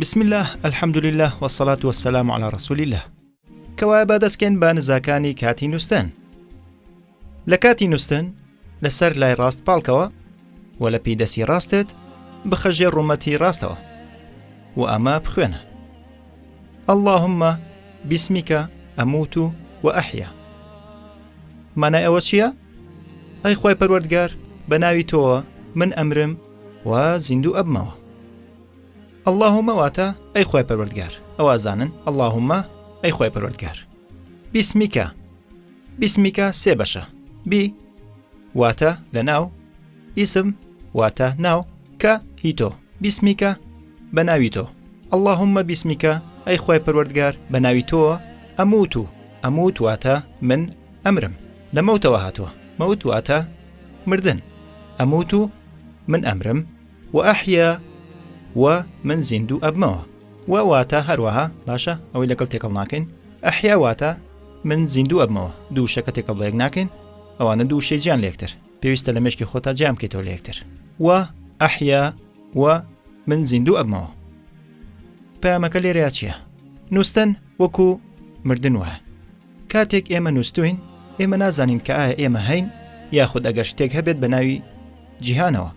بسم اللە الحمد للە وسلات وسلام على رسول اللە کەوا با دەستکەن بە نزاکانی کاتی نووسن لە کاتی نووسن لەسەر لای ڕاست پاڵکەوە و لە پی دەسی ڕاستت بخە ژێر ڕومەتی ڕاستەوە و ئەمە بخوێنە اللهم بسمیکە ئەموت و و ئەحیا مانای ئەوە چییە؟ ئەی خۆی پەروەردگار بە ناوی تۆوە من ئەمرم و زیندوو ئەبمەوە اللهمە واتە ئەی خۆی پەروەردگار ئەوە زانن اللهمە ئەی خۆی پەروەردگار بیسمیکە بیسمیکە سێ بەشە، بی واتە لە ناو، ئیسم واتە ناو، کە هی تۆ، بیسمیکە بە ناوی تۆ، اللهم بیسمیکە ئەی خوای پەروەردگار بە ناوی تۆوە ئەمووت و ئەمووت واتە من ئەمرم، لە مەوتەوە هاتووە، مەوت واتە مردن، ئەمووت و من ئەمرم، و احیا و من زیندوو ئەبمەوە. و واتە هەروەها باشە ئەوەی لەگەڵ تێکەڵ ناکەین احیا واتە من زیندوو ئەبمەوە دوو وشەکە تێکەڵ بەیەک ناکەین ئەوانە دوو وشەی جیان لەیەکتر پێویستە لە مێشکی خۆتا جیان بکەیتەوە لەیەکتر و احیا و من زیندوو ئەبمەوە پەیامەکە لێرەیا چییە نووسن وەکو مردن وایە کاتێک ئێمە نووستووین، ئێمە نازانین کە ئایا ئێمە هەین یاخود ئەگەر شتێک هەبێت بە ناوی جیهانەوە.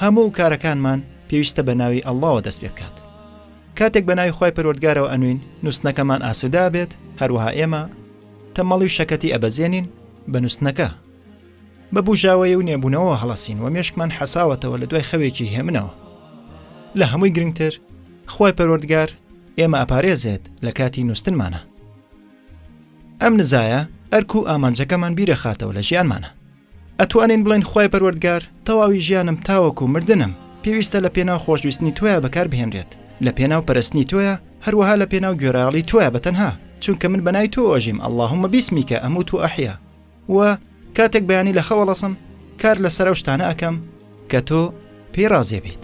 هەموو کارەکانمان پێویستە بە ناوی ئەڵڵاوە دەست پێ بکات. کاتێک بە ناوی خوای پەروەردگارەوە ئەنوین، نووستنەکەمان ئاسوودە ئەبێت، هەروەها ئێمە تەمەڵی و شەکەتی ئەبەزێنین بە نووستنەکە. بە بوژاوەیی و نێبوونەوەوە هەڵەسین و مێشکمان حەساوەتەوە لە دوای خەوێکی هێمنەوە. لە هەمووی گرنگتر، خوای پەروەردگار، ئێمە ئەپارێزێت لە کاتی نووستنمانە ئەم نزایە ئەرک و ئامانجەکەمان بیرەخاتەوە لە ژیانمانە ئەتوانین بڵێن خی پەروەردگار تەواوی ژیانم تاوەکو و مردنم پێویستە لە پێناو خۆشویستنی تویا بەکار بهێنرێت لە پێناو پەرستنی تۆیە هەروەها لە پێناو گوێرایڵی توە بە تەنها چونکە من بەنای تۆ ئۆژیم اللهمە بیسمیکە ئەموو تو ئەحیا و کاتێک بەیانی لە خەوەڵەسم کار لەسەر ئەو شتانە ئەەکەم کە تۆ پێی ڕازێ بیت.